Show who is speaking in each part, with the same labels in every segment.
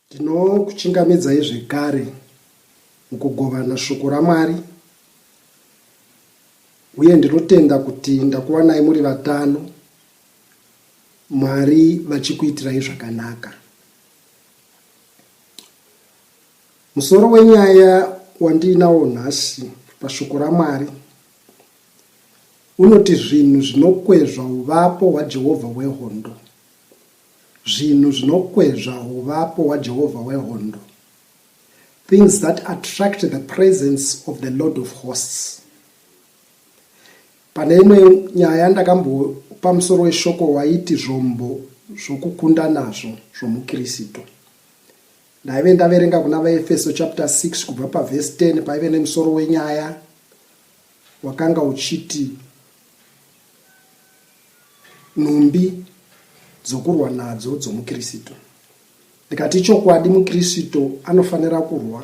Speaker 1: Ndinokuchingamidzai zvekare mukugovana shoko raMwari uye ndinotenda kuti ndakuwanai muri vatano, Mwari vachikuitirai zvakanaka. Musoro wenyaya wandiinawo nhasi pashoko raMwari unoti zvinhu zvinokwezva uvapo hwaJehovha wehondo. Zvinhu zvinokwezva huvapo hwaJehovha wehondo, Things that attract the presence of the Lord of hosts. Pane imwe nyaya yandakambopa musoro weshoko waiti zvombo zvokukunda nazvo zvomuKristu. Ndaive ndaverenga kuna vaEfeso chapter 6 kubva pavhesi 10 paive nemusoro wenyaya wakanga uchiti Nhumbi dzokurwa nadzo dzomuKristu. Ndikati ichokwadi muKristu anofanira kurwa,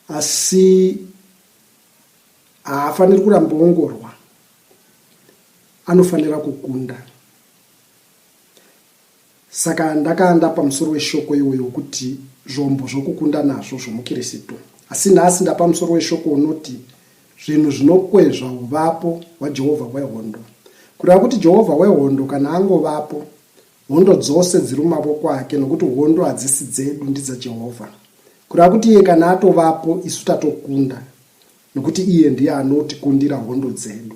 Speaker 1: asi haafaniri kuramba ongorwa, anofanira kukunda. Saka ndakanda pamusoro weshoko iwoyo wokuti zvombo zvokukunda nazvo zvomuKirisitu. Asi nhasi ndapa musoro weshoko unoti zvinhu zvinokwezva uvapo hwaJehovha hwehondo. Kureva kuti Jehovha wehondo kana angovapo, hondo dzose dziri mumavoko ake nokuti hondo hadzisi dzedu, ndidzaJehovha. Kureva kuti iye kana atovapo, isu tatokunda nokuti iye ndiye anotikundira hondo dzedu.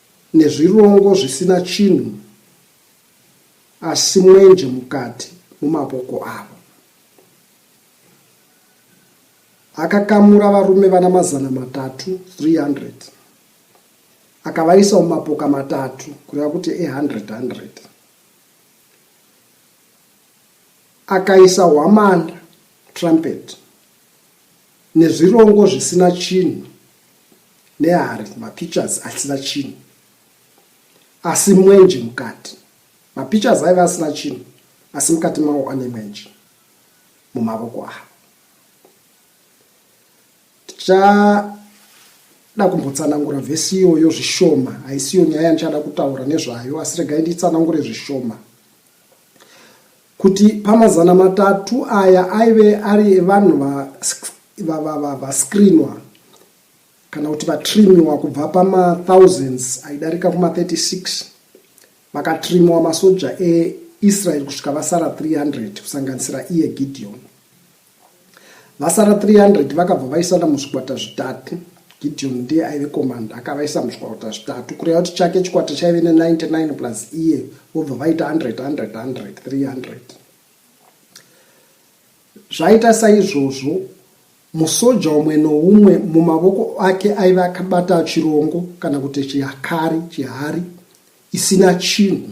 Speaker 1: Nezvirongo zvisina chinhu asi mwenje mukati mumaboko avo. Akakamura varume vana mazana matatu, 300, akavaisa mumapoka matatu, kureva kuti e-hundred hundred. Akaisa hwamanda, trumpet, nezvirongo zvisina chinhu nehari mapictures asina chinhu asi mwenje mukati mapictures aive asina chinhu asi mukati mawo ane mwenje mumavoko avo tichada kumbotsanangura vhesi iyoyo zvishoma haisiyo nyaya yandichada kutaura nezvayo asi regai nditsanangure zvishoma kuti pamazana matatu aya aive ari evanhu vascreenwa kana kuti vatrimiwa kubva pamathousands aidarika kuma36 vakatrimiwa masoja eisrael kusvika vasara 300 kusanganisira iye gideon Vasara 300 vakabva vaisana muzvikwata zvitatu. Gideon ndiye aive komanda akavaisa muzvikwata zvitatu kureva kuti chake chikwata chaive ne99 plus iye vobva vaita 100 100 100 300 zvaita saizvozvo musoja umwe noumwe mumavoko ake aive akabata chirongo kana kuti chihakari chihari isina chinhu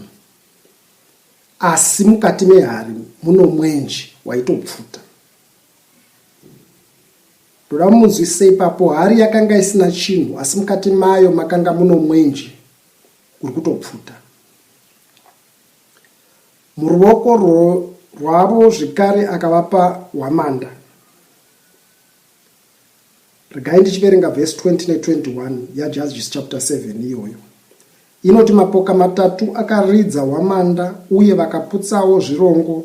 Speaker 1: Asi mukati mehari muno mwenje waitopfuta. Ndoda mumunzwisise ipapo, hari yakanga isina chinhu asi mukati mayo makanga muno mwenje uri kutopfuta. Muruoko rwavo zvekare akavapa hwamanda. Regai ndichiverenga vhesi 20 ne 21 yaJudges chapter 7 iyoyo. Inoti mapoka matatu akaridza hwamanda uye vakaputsawo zvirongo.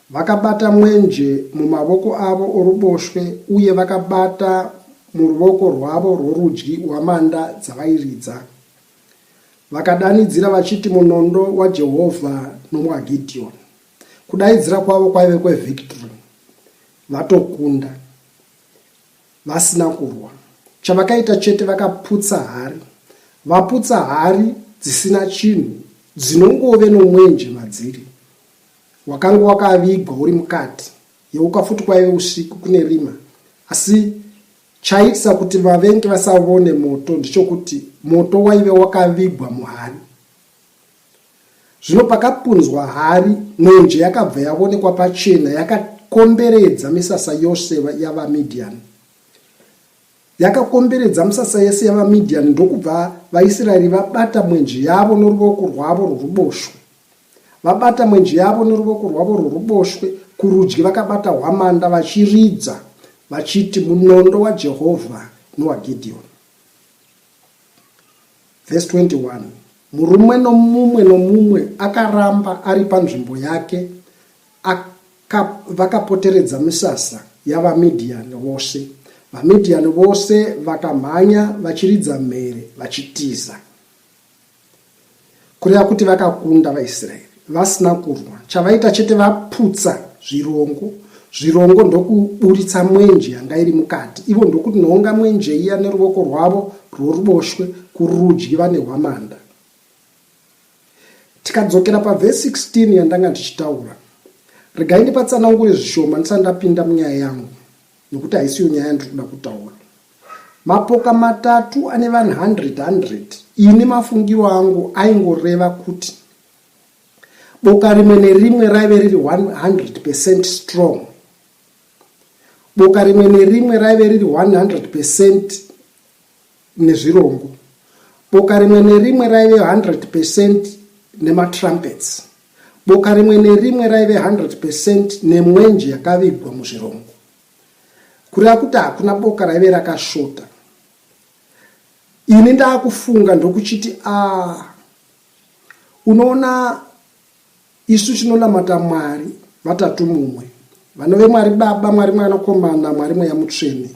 Speaker 1: Vakabata mwenje mumavoko avo oruboshwe uye vakabata muruvoko rwavo rworudyi hwamanda dzavairidza. Vakadanidzira vachiti munondo waJehovha nomwaGidhiyoni. Kudaidzira kwavo kwaive kwevhikitiri, vatokunda. vasina kurwa chavakaita chete vakaputsa hari vaputsa hari dzisina chinhu dzinongove nomwenje madziri wakanga wakavigwa uri mukati yeuka futi kwaive usiku kune rima asi chaitisa kuti vavenge vasavone moto ndichokuti moto waive wakavigwa muhari Zvino pakapunzwa hari, mwenje yakabva yavonekwa pachena yakakomberedza misasa yose yavaMidhiani. Yakakomberedza misasa yese yavaMidhiani ndokubva vaIsraeri vabata mwenje yavo noruvoko rwavo rworuboshwe. Vabata mwenje yavo noruvoko rwavo rworuboshwe, kurudyi vakabata hwamanda vachiridza vachiti, Munondo waJehovha nowaGidhioni. Verse 21 murume nomumwe nomumwe akaramba ari panzvimbo yake aka, vakapoteredza misasa yavamidhiyani vose vamidhiyani vose vakamhanya vachiridza mhere vachitiza kureva kuti vakakunda vaisraeri vasina kurwa chavaita chete vaputsa zvirongo zvirongo ndokuburitsa mwenje yanga iri mukati ivo ndokuti noonga mwenje iya neruvoko rwavo rworuboshwe kurudyi vane hwamanda tikadzokera pavhesi 16 yandanga ndichitaura regai ndipatsanangure zvishoma ndisati ndapinda munyaya yangu nokuti haisiyo nyaya ndiri kuda kutaura Mapoka matatu ane vanhu 100 100. Ini mafungiro angu aingoreva kuti boka rimwe nerimwe raive riri 100 percent strong. Boka rimwe nerimwe raive riri 100 percent nezvirongo. Boka rimwe nerimwe raive 100 percent nematrumpets. Boka rimwe nerimwe raive 100 percent nemwenje yakavigwa muzvirongo. kureva kuti hakuna boka raive rakashota ini ndaakufunga ndokuchiti a ah, unoona isu tinonamata mwari vatatu mumwe vanove mwari baba mwari mwanakomana mwari mweya mutsvene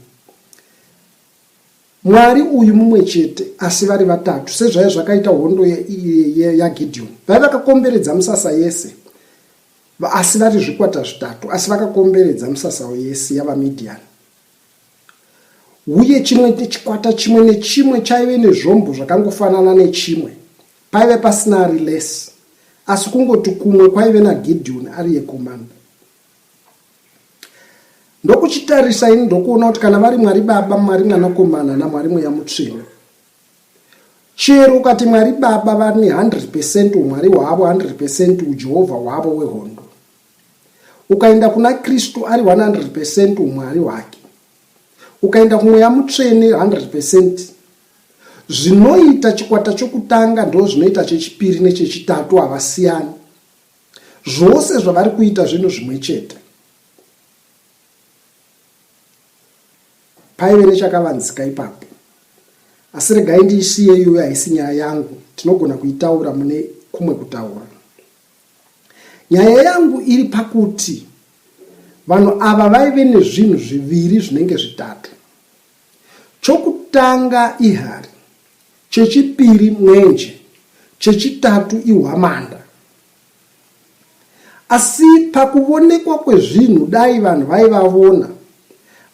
Speaker 1: mwari uyu mumwe chete asi vari vatatu sezvaive zvakaita hondo yagideoni vaive vakakomberedza musasa yese Asi vari zvikwata zvitatu, asi vakakomberedza misasao yese yavaMidhiani. Uye chimwe chikwata chimwe nechimwe chaive nezvombo zvakangofanana nechimwe, paive pasina ari less, asi kungoti kumwe kwaive naGidhioni ari yekomanda. Ndokuchitarisa ini ndokuona kuti kana vari Mwari Baba, Mwari Mwanakomana, naMwari Mweya Mutsvene, Chero ukati Mwari Baba vane 100 percent umwari hwavo, 100 percent uJehovha hwavo wehondo. Ukaenda kuna Kristu ari 100 percent umwari hwake. Ukaenda kumweya mutsvene 100 percent. Zvinoita chikwata chokutanga ndo zvinoita chechipiri nechechitatu havasiyani. Zvose zvavari kuita zvinhu zvimwe chete. Paive nechakavanzika ipapo. Asi regai ndiisiye iyoyo haisi nyaya yangu, tinogona kuitaura mune kumwe kutaura. Nyaya yangu iri pakuti vanhu ava vaive nezvinhu zviviri zvinenge zvitatu. Chokutanga ihari, chechipiri mwenje, chechitatu ihwamanda. Asi pakuvonekwa kwezvinhu dai vanhu vaivavona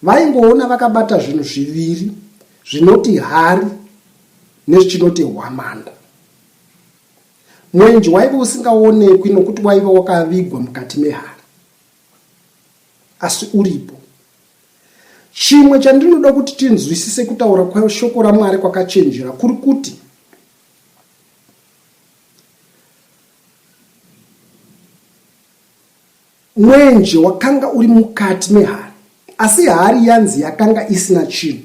Speaker 1: vaingoona vakabata zvinhu zviviri zvinoti hari nezvichinoti hwamanda. Mwenje waive usingaonekwi nokuti waive wakavigwa mukati mehari. Asi uripo. Chimwe chandinoda kuti tinzwisise kutaura kweshoko raMwari kwakachenjera kuri kuti Mwenje wakanga uri mukati mehari, asi hari yanzi yakanga isina chinhu.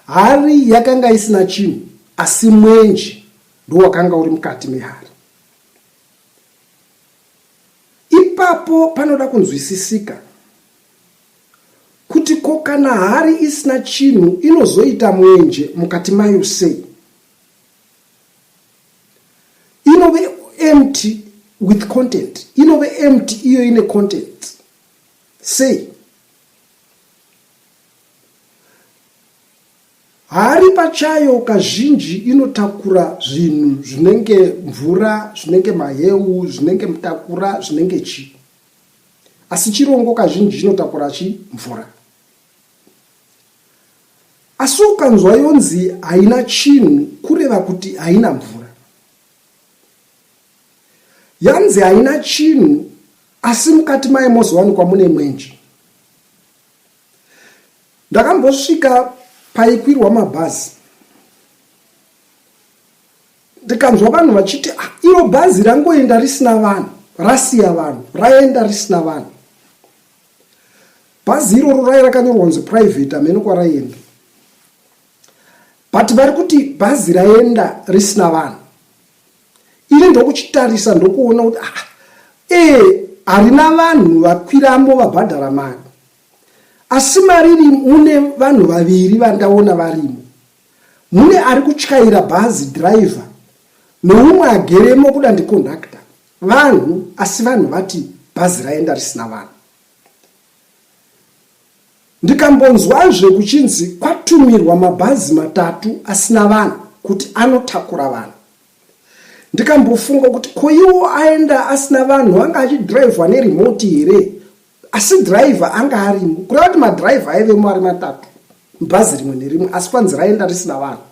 Speaker 1: Hari yakanga isina chinhu, asi mwenje ndowakanga uri mukati mehari. Ipapo panoda kunzwisisika. Kuti ko kana hari isina chinhu inozoita mwenje mukati mayo sei? Inove empty with content. Inove empty iyo ine content. Sei? Hari pachayo kazhinji inotakura zvinhu zvinenge mvura, zvinenge maheu, zvinenge mutakura, zvinenge chii. asi chirongo kazhinji chinotakura chi mvura asi ukanzwa yonzi haina chinhu kureva kuti haina mvura yanzi haina chinhu asi mukati maye mozowanikwa mune mwenje ndakambosvika paikwirwa mabhazi ndikanzwa vanhu vachiti ah, iro bhazi rangoenda risina vanhu rasiya vanhu raenda risina vanhu bhazi iroro rai rakanyorwa kunzi private amene kwaraienda but vari kuti bhazi raenda risina vanhu ini ndokuchitarisa ndokuona kuti ah, ee eh, harina vanhu vakwiramo vabhadhara mari asi mari iri mune vanhu vaviri vandaona varimo Mune ari kutyaira bhazi, driver, noumwe ageremo kuda ndiconductor, vanhu, asi vanhu vati bhazi raenda risina vanhu. Ndikambonzwazve kuchinzi kwatumirwa mabhazi matatu asina vanhu kuti anotakura vanhu. Ndikambofunga kuti ko iwo aenda asina vanhu anga achidrivhwa neremoti here asi dhiraivha anga arimo kureva kuti madhiraivha aivemo ari matatu mubhazi rimwe nerimwe asi kwanzi raenda risina vanhu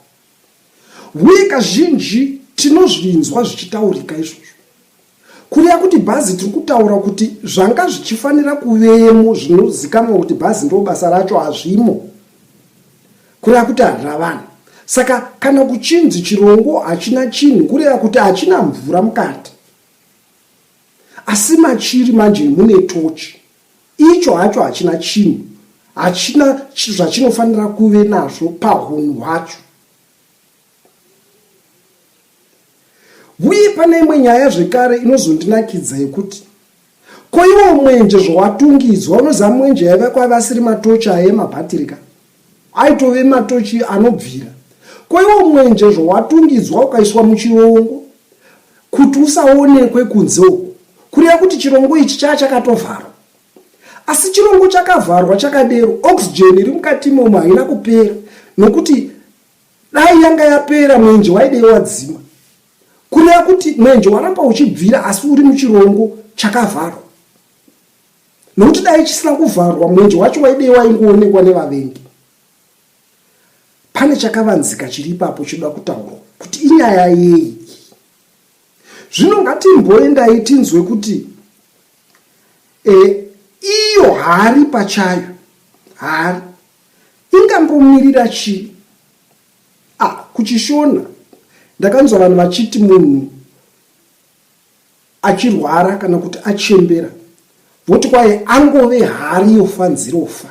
Speaker 1: uye kazhinji tinozvinzwa zvichitaurika izvozvo kureva kuti bhazi tiri kutaura kuti zvanga zvichifanira kuvemo zvinozikanwa kuti bhazi ndo basa racho hazvimo kureva kuti harina vanhu saka kana kuchinzi chirongo hachina chinhu kureva kuti hachina mvura mukati Asi machiri manje mune tochi. Icho hacho hachina chinhu. Hachina zvachinofanira kuve nazvo pahunhu hwacho. Uye pane imwe nyaya zvekare inozondinakidza yekuti ko iwo mwenje zvowatungidzwa unoziva mwenje yaiva kwavasiri matochi aye mabhatiri ka. Aitove matochi anobvira. Ko iwo mwenje zvawatungidzwa ukaiswa muchirongo kuti usaonekwe kunze uku kureva kuti chirongo ichi chaa chakatovharwa asi chirongo chakavharwa chakadero oxygen iri mukati imomo haina kupera nokuti dai yanga yapera mwenje waidei wadzima kureva kuti mwenje waramba uchibvira asi uri muchirongo chakavharwa nokuti dai chisina kuvharwa mwenje wacho waidei waingoonekwa nevavengi pane chakavanzika chiri ipapo chinoda kutaurwa kuti inyaya yei zvino ngatimboendai tinzwe kuti e, iyo hari pachayo hari ingambomirira chii ah, kuchishona ndakanzwa vanhu vachiti munhu achirwara kana kuti achembera voti kwaye angove hari yofa nzirofa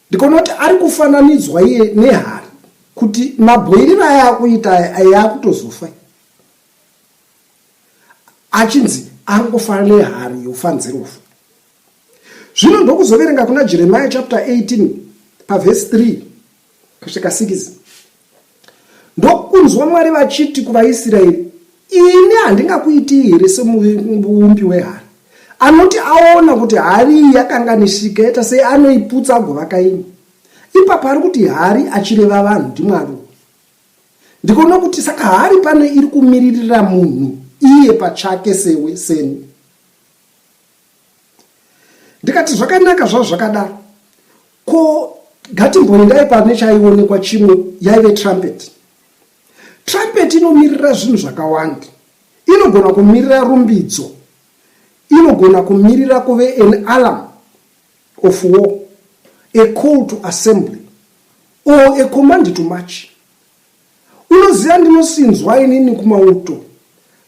Speaker 1: ndikaona kuti ari kufananidzwa iye nehari kuti mabhoiriro aya akuita aya akutozofa achinzi angofana nehari yofa nzirofa zvino ndokuzoverenga kuna jeremiya chapter 18 pavhesi 3 kusvika 6 ndokunzwa mwari vachiti kuvaisraeri ini handingakuitii here semuumbi wehari anoti aona kuti hari iyi yakanganishika yaita sei anoiputsa agovaka imwe ipapo ari kuti hari achireva vanhu ndimwari ndikoona kuti saka hari pane iri kumiririra munhu iye pachake sewe seni ndikati zvakanaka zvazvo zvakadaro ko ngatimboendai pane chaionekwa chimwe yaive trumpet trumpet inomirira zvinhu zvakawanda inogona kumirira rumbidzo inogona kumirira kuve an alarm of war a call to assembly or a command to march Unoziva ndinosinzwa inini kumauto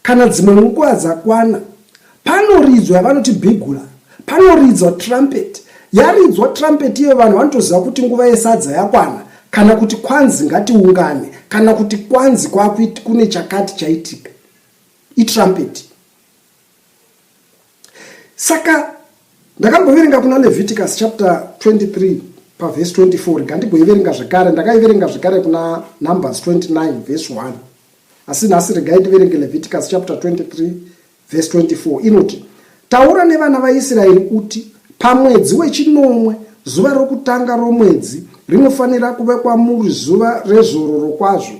Speaker 1: kana dzimwe nguva dzakwana panoridzwa yavanoti bhigula panoridzwa trumpet yaridzwa trumpet iyo vanhu vanotoziva kuti nguva yesadza yakwana kana kuti kwanzi ngatiungane kana kuti kwanzi kwakuti kune chakati chaitika itrumpet saka ndakamboverenga kuna leviticus chapter 23 pavhesi 24 rikandigoiverenga zvekare ndakaiverenga zvekare kuna numbers 29 vhesi 1 asi nhasi regai ndiverenge leviticus chapter 23 vhesi 24 inoti taura nevana vaisraeri uti pamwedzi wechinomwe zuva rokutanga romwedzi rinofanira kuve kwamuri zuva rezororo kwazvo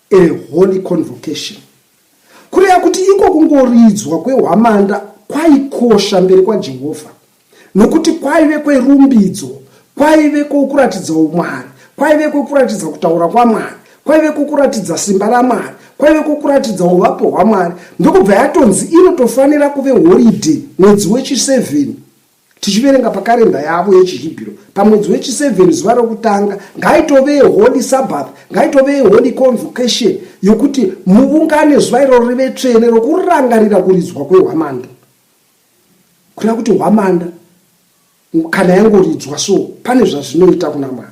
Speaker 1: A holy convocation kureva kuti iko kungoridzwa kwehwamanda kwaikosha mberi kwaJehovha nokuti kwaive kwerumbidzo, kwaive kwokuratidza umwari, kwaive kwokuratidza kutaura kwaMwari, kwaive kwokuratidza simba raMwari, kwaive kwokuratidza uvapo hwaMwari. Ndokubva yatonzi inotofanira kuve horidhe mwedzi wechi-7. Tichiverenga pakarenda yavo yechiHibhiro, pamwedzi wechi-seven, zuva rokutanga, ngaitove holy sabbath, ngaitove holy convocation, yokuti muvungane zuva iroro rive tsvene, rokurangarira kuridzwa kwehwamanda. Kureva kuti hwamanda kana yangoridzwa so, pane zvazvinoita kuna Mwari.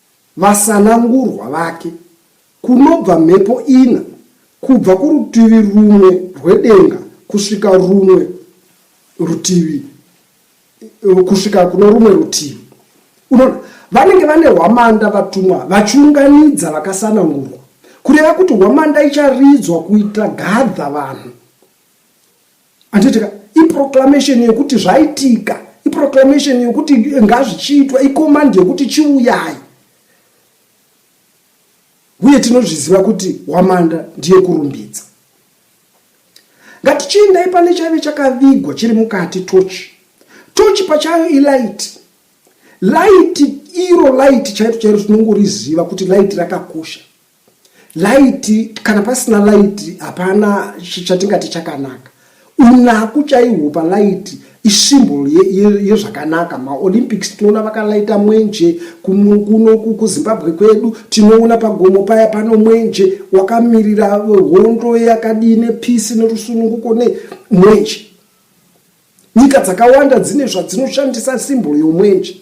Speaker 1: Vasanangurwa vake, kunobva mhepo ina, kubva kurutivi rumwe rwedenga kusvika rumwe rutivi, kusvika kuno rumwe rutivi. Unoona, vanenge vane hwamanda vatumwa vachiunganidza vakasanangurwa, kureva kuti hwamanda icharidzwa kuita gadha vanhu Handiti ka iproclamation yekuti zvaitika, iproclamation yekuti ngazvichiitwa, icommand yekuti chiuyai. Uye tinozviziva kuti Hwamanda ndiye kurumbidza. Ngatichiendai pane chaive chakavigwa chiri mukati tochi. Tochi pachayo ilight. Light iro light chairo chairo tinongoriziva kuti light rakakosha. laiti kana pasina laiti hapana chatingati chakanaka unaku chaihwo palaiti isimbol yezvakanaka ye, ye maolympics tinoona vakalaita mwenje kuno kuzimbabwe kwedu tinoona pagomo paya pano mwenje wakamirira hondo yakadii nepisi nerusununguko ne mwenje nyika dzakawanda dzine zvadzinoshandisa simbol yomwenje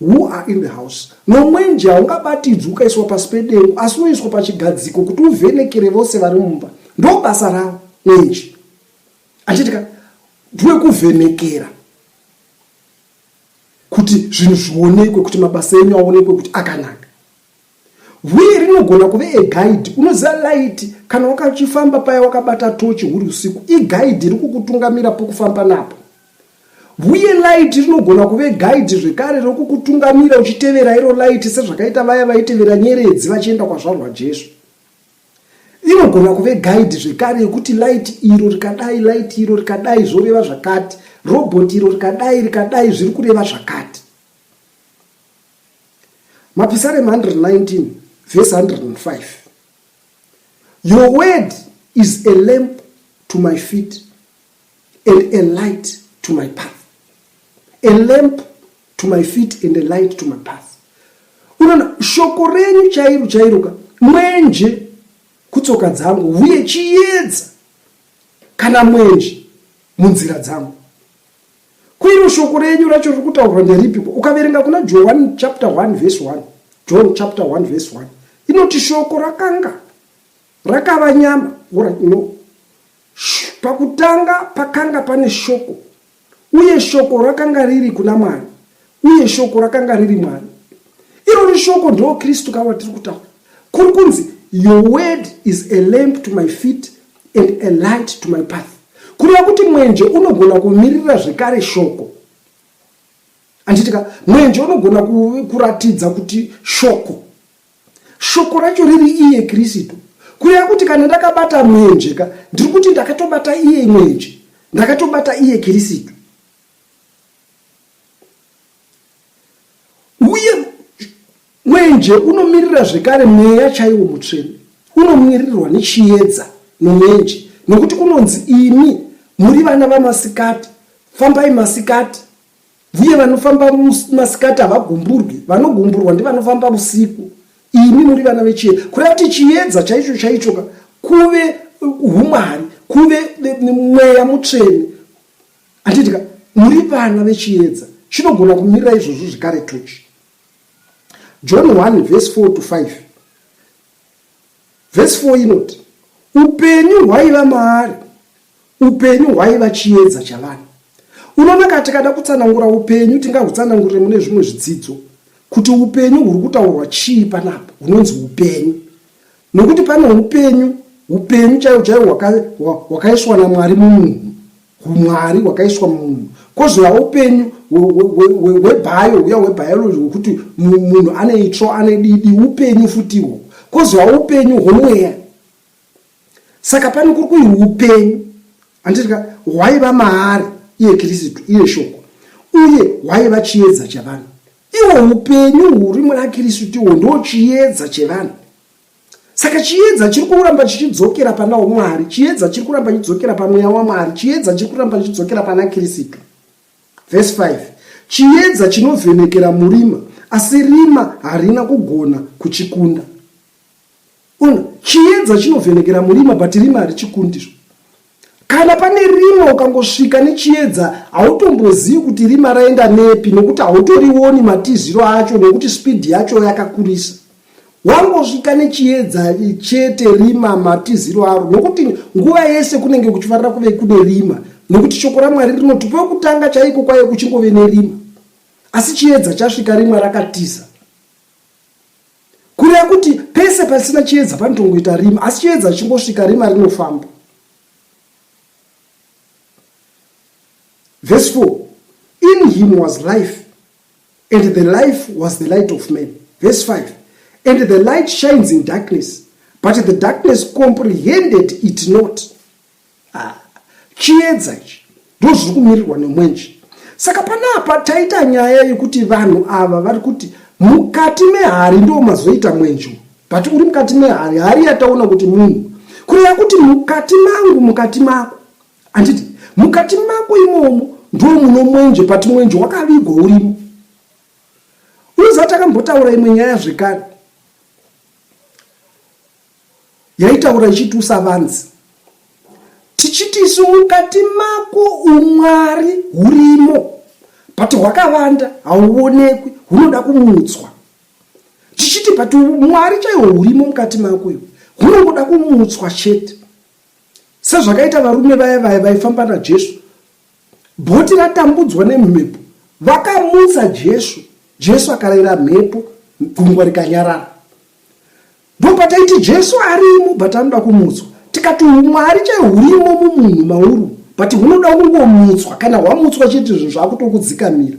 Speaker 1: Who are in the house? Nomwenje haungabatidzwi ukaiswa pasi pedengu asi unoiswa pachigadziko kuti uvhenekere vose vari mumba. Ndobasa rawo mwenje. Achitika ndwekuvhenekera kuti zvinhu zvionekwe kuti mabasa enyu aonekwe kuti akanaka. Hwiye rinogona kuve a guide. Unoziva light kana wakachifamba paya wakabata tochi huri usiku. I guide rikukutungamira pokufamba napo. Hwiye light rinogona kuve guide zvekare rokukutungamira uchitevera iro light sezvakaita vaya vaitevera nyeredzi vachienda kwazvarwa Jesu. Inogona kuve guide zvekare yekuti light iro rikadai light iro rikadai zvoreva zvakati. Robot iro rikadai rikadai zviri kureva zvakati. Mapisarema 119 verse 105 Your word is a lamp to my feet and a light to my path. A lamp to my feet and a light to my path. Unoona shoko renyu chairo chairoka mwenje kutsoka dzangu uye chiyedza kana mwenje munzira dzangu. Ko iro shoko renyu racho riri kutaurwa nderipiko? Ukaverenga kuna Johani chapter 1 verse 1, John chapter 1 verse 1, inoti shoko rakanga rakava nyama. Ora, no. Sh, pakutanga pakanga pane shoko, uye shoko rakanga riri kuna Mwari, uye shoko rakanga riri Mwari. Irori shoko ndo Kristu kavatiri kutaura. Kuri kunzi your word is a lamp to my feet and a light to my path kureva kuti mwenje unogona kumirira zvekare shoko anditika mwenje unogona kuratidza kuti shoko shoko racho riri iye kristu kureva kuti kana ndakabata mwenje ka ndiri kuti ndakatobata iye mwenje ndakatobata iye kristu Mwenje unomirira zvekare mweya chaiwo mutsvene, unomiririrwa nechiedza nomwenje, nokuti kunonzi, Imi muri vana vamasikati, fambai masikati, vuye vanofamba masikati havagumburwi, vanogumburwa ndivanofamba vusiku, imi muri vana vechiedza. Kureva kuti chiedza chaicho chaichoka kuve humwari, kuve mweya mutsvene, handitika muri vana vechiedza, chinogona kumirira izvozvo zvekare tochi. John 1 vhesi 4 to 5 vhesi 4 inoti upenyu hwaiva maari upenyu hwaiva chiedza chavanhu unoona ka tikada kutsanangura upenyu tingahutsanangurire mune zvimwe zvidzidzo kuti upenyu huri kutaurwa chii panapa hunonzi upenyu nokuti pane upenyu upenyu chaiwo chaiwo hwakaiswa namwari mumunhu humwari hwakaiswa mumunhu kozouya upenyu hwebhayo huya hwebiology hwekuti munhu ane itsvo ane didi upenyu futiwo kozouya upenyu hwemweya saka pane kuri kuhi upenyu anditika hwaiva maari iye kirisitu iye shoko uye hwaiva chiedza chevanhu iwo upenyu huri muna kirisitu iwo ndo chiedza chevanhu Saka chiedza chiri kuramba chichidzokera pana Mwari, chiedza chiri kuramba chichidzokera pamweya waMwari, chiedza chiri kuramba chichidzokera pana Kristu. Verse 5 chiedza chinovhenekera murima, asi rima harina kugona kuchikunda. Ona, chiedza chinovhenekera murima, but rima harichikundizvo. Kana pane rima ukangosvika nechiedza hautombozivi kuti rima raenda nepi nokuti hautorioni matiziro acho nokuti spidi yacho yakakurisa. Wangosvika nechiedza chete rima matiziro aro nokuti nguva yese kunenge kuchifarira kuve kune rima nokuti shoko raMwari rinoti kwekutanga chaiko kwaiye kuchingove nerima. Asi chiedza chasvika rima rakatiza. Kureva kuti pese pasina chiedza panotongoita rima, asi chiedza chichingosvika rima rinofamba. Verse 4 In him was life, and the life was the light of men. Verse 5 And the light shines in darkness, but the darkness comprehended it not. Ah, chiedza ichi ndozviri kumirirwa nemwenje saka panapa taita nyaya yekuti vanhu ava vari kuti mukati mehari ndo mazoita mwenje but uri mukati mehari hari yataona kuti munhu kureva kuti mukati mangu mukati mako anditi mukati mako imomo ndo muno mwenje but mwenje wakavigwa urimo unoziva takambotaura imwe nyaya zvekare Yaitaura ichiti, Usavanzi. Tichiti isu mukati mako umwari hurimo but hwakavanda hauonekwi hunoda kumutswa. Tichiti but mwari chaiwo hurimo mukati mako iwe hunongoda kumutswa chete. Sezvakaita varume vaya vaya vaifamba naJesu. Bhoti ratambudzwa nemhepo vakamutsa Jesu. Jesu akarayira mhepo gungwa rikanyarara. Ndopataiti Jesu arimo but anoda kumutswa. Tikati humwari chaiho hurimo mumunhu mauru but hunoda kungomutswa kana hwamutswa chete zvinhu zvakutokudzikamira.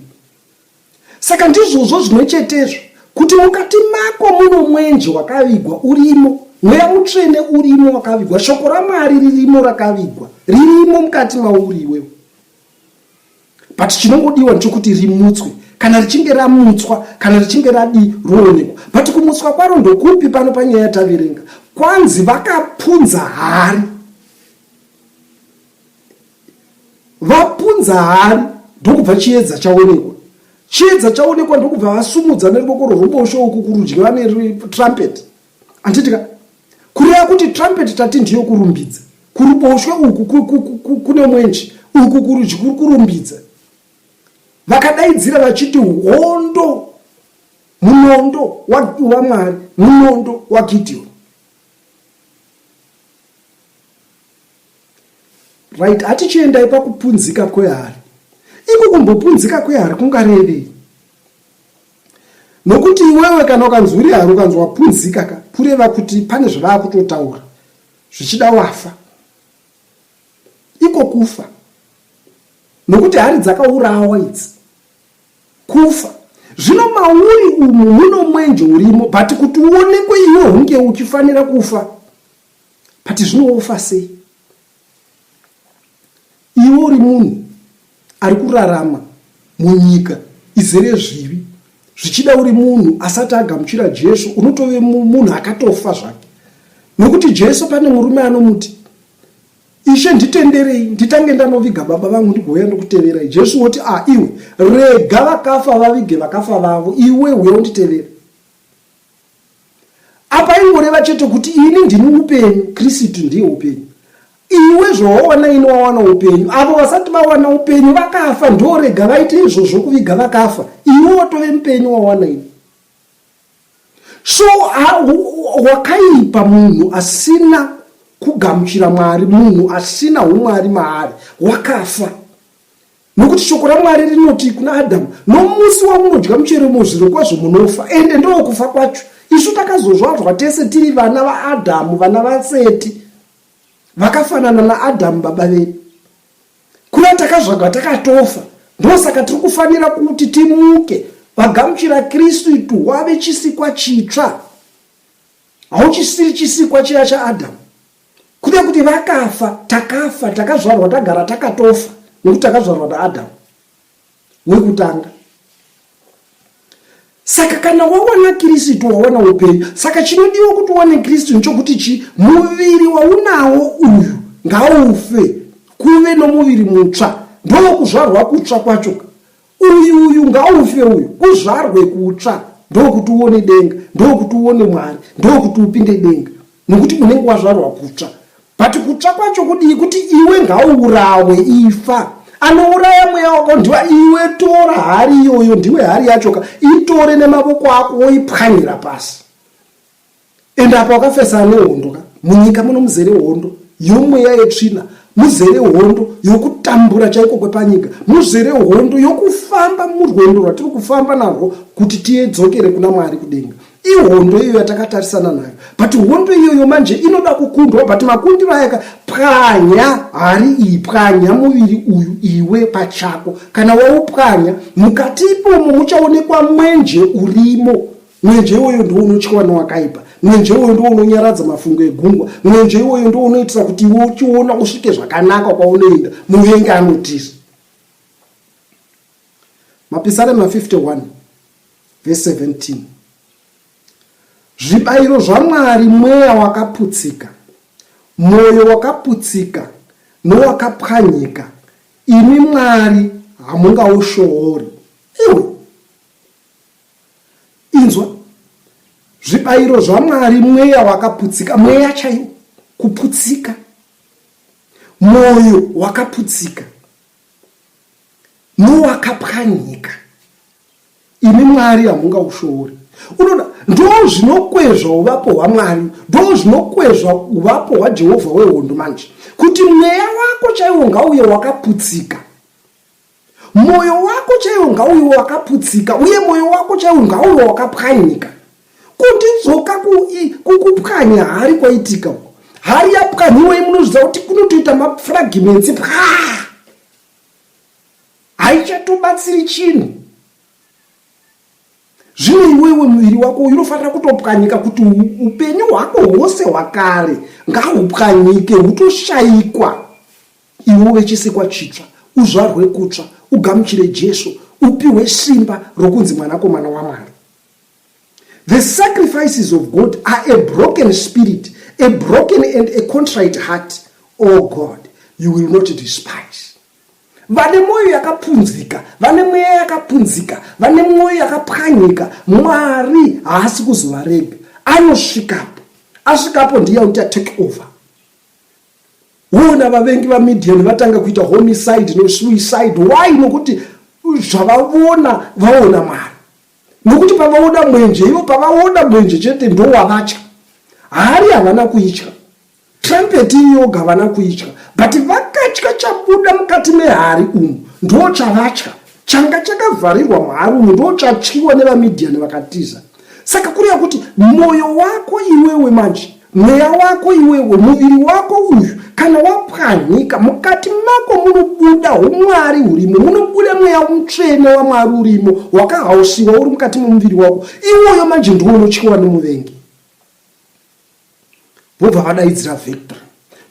Speaker 1: Saka ndizvozvo zvimwe chetezvo kuti mukati mako muno mwenje wakavigwa urimo, mweya mutsvene urimo wakavigwa, shoko raMwari ririmo rakavigwa ririmo mukati mauri iwewe. but chinongodiwa ndechokuti rimutswe kana richinge ramutswa kana richinge radii roonekwa but kumutswa kwaro ndokupi pano panyaya yataverenga kwanzi vakapunza hari vapunza hari ndokubva chiedza chaonekwa chiedza chaonekwa ndokubva vasumudza neruoko rworubosho uku kurudyi vane trumpet handiti ka kureva kuti trumpet tati ndiyo kurumbidza kuruboshwe uku kune mwenji uku kurudyi kuri kurumbidza vakadaidzira vachiti hondo munondo wamwari munondo wagidhioni right hatichiendai pakupunzika kwehari iko kumbopunzika kwehari kungarevei Nokuti iwewe kana ukanzwa uri haro ukanzwa wapunzika ka kureva kuti pane zvavava kutotaura zvichida wafa iko kufa nokuti hari dzakaurawa idzi kufa zvino mauri umu muno mwenje urimo but kuti uonekwe iwe hunge uchifanira kufa but zvinowofa sei Iwe uri munhu ari kurarama munyika izere zvivi zvichida uri munhu asati agamuchira jesu unotove munhu akatofa zvake nokuti jesu pane murume anomuti ishe nditenderei nditange ndanoviga baba vangu ndigouya ndokuteverai jesu woti a ah, iwe rega vakafa vavige vakafa vavo iwe uya unditevera Apa ingoreva chete kuti ini ndini upenyu, Kristu ndiye upenyu. Iwe zvawawana ini wawana upenyu, avo vasati vawana upenyu vakafa, ndorega vaite izvozvo kuviga vakafa. Iwe watove mupenyu wawana ini. So wakaipa munhu asina kugamuchira Mwari, munhu asina umwari maari, wakafa. Nokuti shoko raMwari rinoti kuna Adhamu, Nomusi wamunodya muchero umo zvirokwazvo munofa, ende ndowokufa kwacho. Isu takazozvadzwa tese tiri vana vaAdhamu, vana vaSeti, vakafanana naAdhamu baba vedu. Kuva takazvagwa takatofa, ndosaka tiri kufanira kuti timuke, vagamuchira Kristu, itu wave chisikwa chitsva. Hauchisiri chisikwa chiya chaAdhamu. Kuda kuti vakafa, takafa, takazvarwa tagara takatofa nekuti takazvarwa naAdamu wekutanga. Saka kana wawana Kristu wawana upenyu. Saka chinodiwa kuti uwane Kristu nchokuti chi muviri waunawo uyu ngaufe kuve nomuviri mutsva ndokuzvarwa kutsva kwacho Uyu uyu ngaufe uyu uzvarwe kutsva ndokuti uone denga ndokuti uone Mwari ndokuti upinde denga nokuti unenge wazvarwa kutsva but kutsva kwacho kudii kuti iwe ngauurawe ifa anouraya mweya wako ndiwa iwe tora hari iyoyo ndiwe hari yachoka itore nemavoko ako woipwanyira pasi and apa wakafesana nehondo ka munyika muno muzere hondo yomweya yetsvina muzere hondo yokutambura chaiko kwepanyika muzere hondo yokufamba murwendo rwatiri kufamba narwo kuti tiyedzokere kuna mwari kudenga ihondo iyo yatakatarisana nayo but hondo iyoyo manje inoda kukundwa but makundiro ayaka pwanya hari iyi pwanya muviri uyu iwe pachako kana waupwanya mukati ipomo muchaonekwa mwenje urimo Mwenje iwoyo ndiwo unotyiwa nowakaipa. Mwenje iwoyo ndiwo unonyaradza mafungo egungwa. Mwenje iwoyo ndiwo unoitisa kuti iwe uchiona usvike zvakanaka kwaunoenda. Muvengi anotiza. Mapisarema 51 vese 17 zvibayiro zvamwari mweya wakaputsika mwoyo wakaputsika nowakapwanyika imi mwari hamungaushowori iwe inzwa zvibayiro zvamwari mweya wakaputsika mweya chaiwo kuputsika mwoyo wakaputsika nowakapwanyika imi mwari hamungaushori unoda ndo zvinokwezva uvapo hwamwari ndo zvinokwezva uvapo hwajehovha wehondo manje kuti mweya wako chaiwo ngauye wakaputsika Moyo wako chaiwo ngauiwo wakaputsika uye moyo wako chaiwo ngauiwo wakapwanyika kuti dzoka kukupwanya hari kwaitika uko hari yapwanyiwai munozvidza kuti kunotoita mafragimensi paa haichatobatsiri chinhu zvino iwewe muviri wako uyu unofanira kutopwanyika kuti upenyu hwako hwose hwakare ngahupwanyike hutoshayikwa Iwe uve chisikwa chitsva, uzvarwe kutsva, ugamuchire Jesu, upihwe simba rokunzi mwanakomana waMwari. The sacrifices of God are a broken spirit, a broken and a contrite heart. Oh God, you will not despise. Vane mwoyo yakapunzika, vane mweya yakapunzika, vane mwoyo yakapwanyika, Mwari haasi kuzovarega. Anosvikapo. Asvikapo ndiye uta take over. Hona vavengi vaMidian vatanga kuita homicide nesuicide. Why? Nokuti zvavavona vaona Mwari. Nokuti pavaona mwenje, ivo pavaona mwenje chete ndowavatya. Hari havana kuitya. Trumpet iyoga havana kuitya. But vakatya chabuda mukati mehari umu ndochavatya. Changa chakavharirwa muHaruni ndochachinwa nevaMidhiani vakatiza. Saka kureva kuti mwoyo wako iwewe manje, mweya wako iwewe, muviri wako uyu, kana wapwanyika, mukati mako munobuda humwari hurimo, munobuda mweya mutsvene wamwari urimo, wakahausiwa uri mukati momuviri wako. Iwoyo manje ndiwo unotyiwa nemuvengi. vobva vadaidzira victory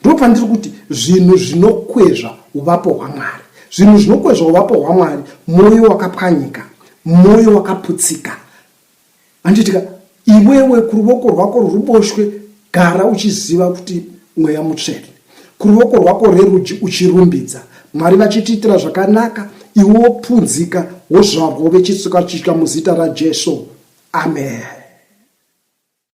Speaker 1: ndopandiri kuti zvinhu zvinokwezva uvapo hwamwari zvinhu zvinokwezva uvapo hwamwari mwoyo wakapwanyika mwoyo wakaputsika anditika iwewe kuruvoko rwako rwuboshwe gara uchiziva kuti mweya mutsvene kuruvoko rwako rerudyi uchirumbidza mwari vachitiitira zvakanaka iwe wopunzika wozvarwo vechitsuka chitya muzita rajesu amen